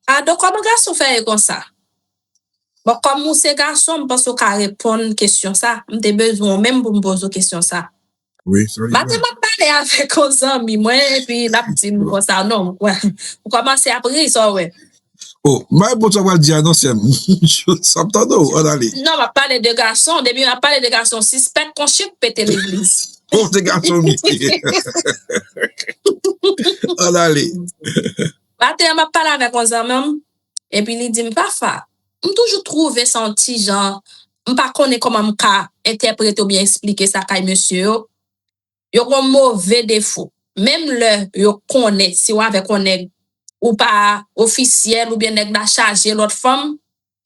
Pardon koman gason fè ye konsa? Bon kòm ou se gason m panse ou ka reponn kesyon sa, m te bezwen w menm pou m poze w kesyon sa. Maten m ap pale avèk yon zanmi mwen epi l ap di m konsa non, ou kòmanse ap ri sa w wè. Oh m pa reponn sa w pral di a non sèm sa m tande w an ale. Non map pale de gason depi map pale de gason sispèk kon chip pete legliz. Oh se gason m ye an ale. Maten an map pale avèk yon zanman m epi li di m Fafa m toujou twouve sa yon ti jan m pa konnen kòman m ka entèprete oubyen esplike sa kay mesye yo yo gon move defo menm lè yo konnen si w avèk yon nèg ou pa ofisyèl oubyen nèg la chaje lòt fanm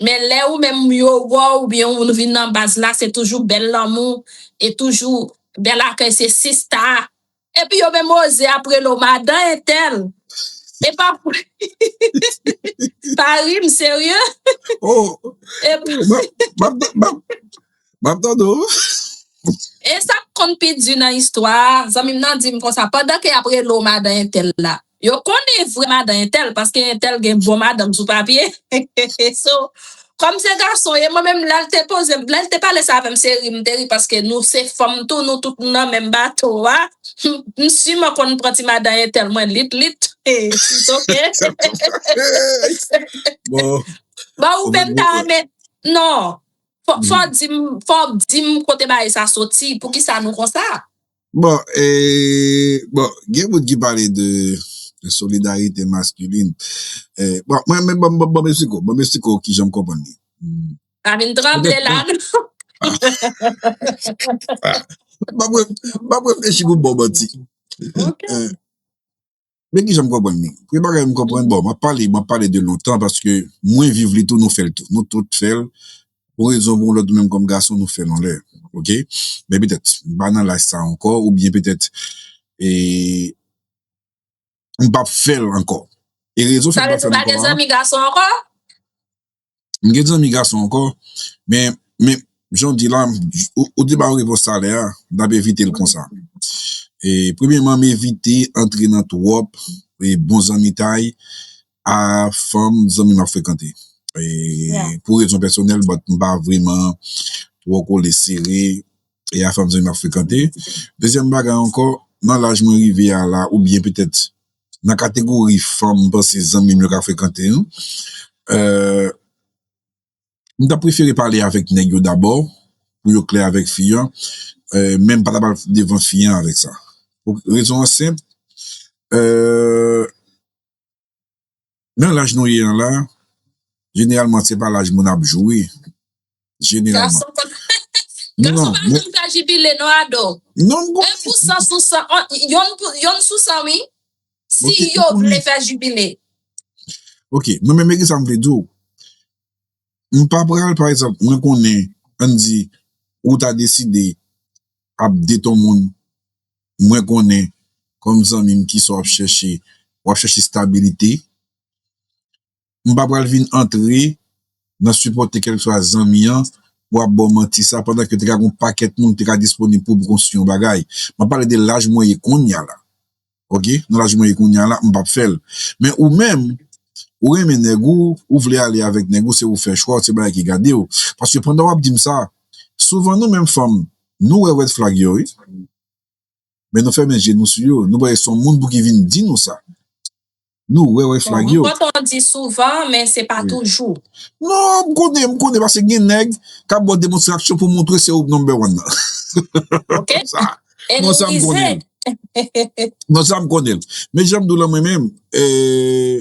men lè ou menm yo wè w oubyen ou vin nan baz la se toujou bèl lanmou e toujou bèl akèy se sista epi yo menm oze ap rele w madan entèl e pa pa ri m serye epi. Map tande w. E sa k konn pi di nan istwa a, zanmi m nan di m konsa, pandan ke y ap rele w madan entèl la, yo konnen vrè madan entèl, paske entèl gen bon madanm sou papye, so, kòm se gason w ye, mwen menm lè l te poze m, lè l te pale sa avè m, se ri m te ri, paske nou se fanm tou, nou tout nou nan menm bato a, m siman konn pran ti madan entèl mwen lit lit, it's ok. Bon ou menm ta renmen, non, Fòk di m kote bagay sa soti, poukisa nou konsa? Bon, gen moun ki pale de solidarite maskilin. Bon, mwen men banm banm esiko, banm esiko ki jan m konprann li. Pa vin tranble la non. Banm reflechi pou m ba w manti. Men kijan m konprann li. Premye bagay m konprann, bon, m ap pale, m ap pale de lontan paske mwen viv li tou, nou fè l tou. Nou tout fè l. Pou yon rezon ou pou yon lòt, nou menm kòm gason, nou fè l yon lè. Ok? Men petèt, m pa nan laj sa ankò oubyen petèt e m p ap fè l ankò. E rezon fè m p ap fè l ankò an. Sa vle di ou pa gen zanmi gason ankò? M gen zanmi gason ankò, men jan w di la, ou te ba yo repons talè a, m ap evite l konsa. Premyeman, m evite antre nan twòp bon zanmitay a fanm zanmi m ap frekante. Pou rezon pèsonèl, m pa vreman twò kole sere a fanm zanmi m ap frekante. Dezyèm bagay ankò, nan laj mwen rive a la, oubyen petèt nan kategori fanm m panse zanmi m yo ka frekante yo m ta prefere pale avèk nèg yo dabò pou yo klè avèk fi an men m pa ta pral devan fi an avèk sa rezon an senp eee Nan laj nou ye an la, jeneralman se pa laj moun ap joure, jeneralman. Gason pa janm ka jibile non Ado. Non m konnen. 1 pou 100 sou 100, yonn sou 100 wi, si yo vle fè jibile. Ok, mwen menm men kisa m vle di w, m pa pral pa egzanp, mwen konnen, ann di ou ta deside ap date yon moun mwen konnen kòm zanmi m kisa w ap chèche, w ap chèche stabilite, m pa pral vin antre nan sipòte kèlkeswa zanmi an pou ap ba w manti sa pandan ke te ka gen yon pakèt moun ki te ka disponib pou konstwi yon bagay, m ap pale de laj mwen ye kounya la ok, nan laj mwen ye kounya la m pap fè l, men ou menm ou renmen nèg ou, ou vle ale avèk nèg ou se ou fè chwa w se bagay ki gade w, paske pandan w ap di m sa souvan nou menm fanm Nou wè red flag yo wi men nou fèmen je nou sou yo nou kwè son moun pouki vin di nou sa nou wè red flag yo. Bon m kontan di souvan men se pa toujou. Non m konnen m konnen pase gen nèg kap bò demonstraksyon pou montre se ou k number one nan ok e nou rize non sa m konnen men janm di w lan mwen menm ee.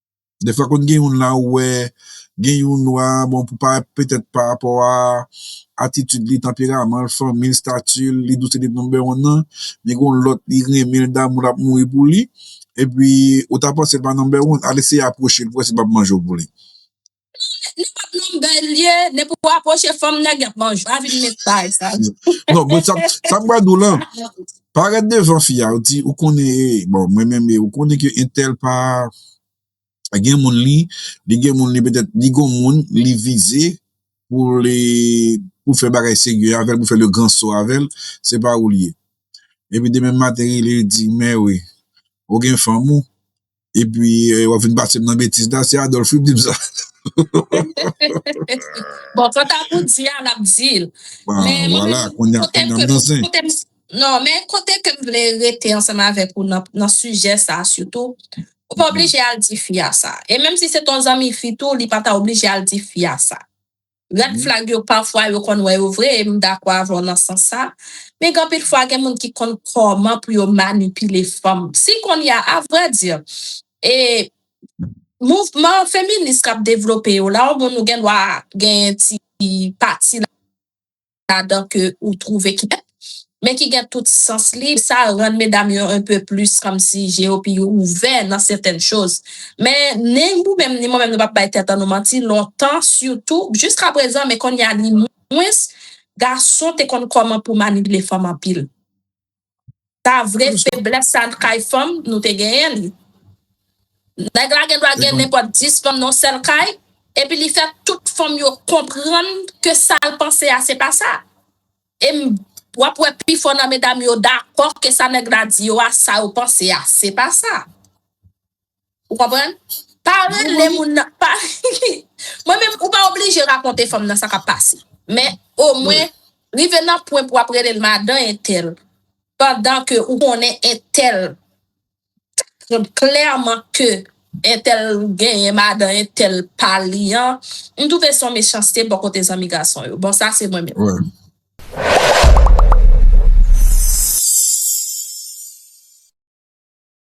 Defwa konn gen youn la ou wè gen youn nwa bon pou pa petèt pa rapò a atitid li, tanperaman l, fanmi l, stati l, li di w se li number one nan, men gen yon lòt li renmen l damou l ap mouri pou li epi ou ta panse l pa number one al eseye apwoche l pou wè si l pap manje w pou li. Nèg li pat nonm bèl li ye, depi ou apwoche fanm nèg yap manje, pa vin met bagay sa yo. Non mwen sa m pral di w lan, pa rèt devan fi a, ou di ou konnen e, bon mwen menm e, ou konnen ke entèl pa gen moun li, li gen moun li petèt li gon moun li vize pou li pou fè bagay serye avèl, pou fè le grand saut avèl, se pa ou li ye. Epi demenm maten rele di mèwi ou gen fanm ou. epi wap vin pase m nan betiz la se Adolphe wi ki di m sa bon kanta pou di a nap di l men kote ke m vle rete ansanm avèk ou nan sijè sa sitou ou pa oblije al di fi a sa e menm si se ton zanmi fi tou li pa ta oblije al di fi a sa Red flag yo pafwa yo konn wè yo vre e m dakò avè w nan sans sa, men gen anpil fwa gen moun ki konn kòman pou yo manipile fanm. Si kounye a a vrè di e mouvman feminis k ap devlope yo la ou moun ou gen dwa genyen ti pati ladan. ladan ke ou twouve ki bèl, men ki gen tout sans li, sa rann medam yo un peu plus kòmsi je yo pi ouvè nan sètèn choz. Men ni ou menm ni mwen menm nou pap bay tèt an nou manti, lontan sitou, jiska prezan men konnya ni mwens, gason te konn kòman pou manipile fanm anpil. Ta vre feblès sa kay fanm nou te genyen li. Nèg la gen dwa gen nenpòt 10 fanm nan yon sèl kay epi li fè tout fanm yo konprann ke sa l panse a se pa sa. E w ap wè pi fò nan medam yo dakò ke sa nèg la di yo a sa yo panse a se pa sa. Ou konprann? Pa rele moun nan pa Mwen menm ou pa oblije rakonte fanm nan sa k ap pase men omwen rive nan pwen pou w ap rele l madan entèl pandan ke ou konnen entèl klèman ke entèl genyen madan entèl pa li an m twouve se yon mechanste bò kote zanmi gason yo bon sa se mwen menm.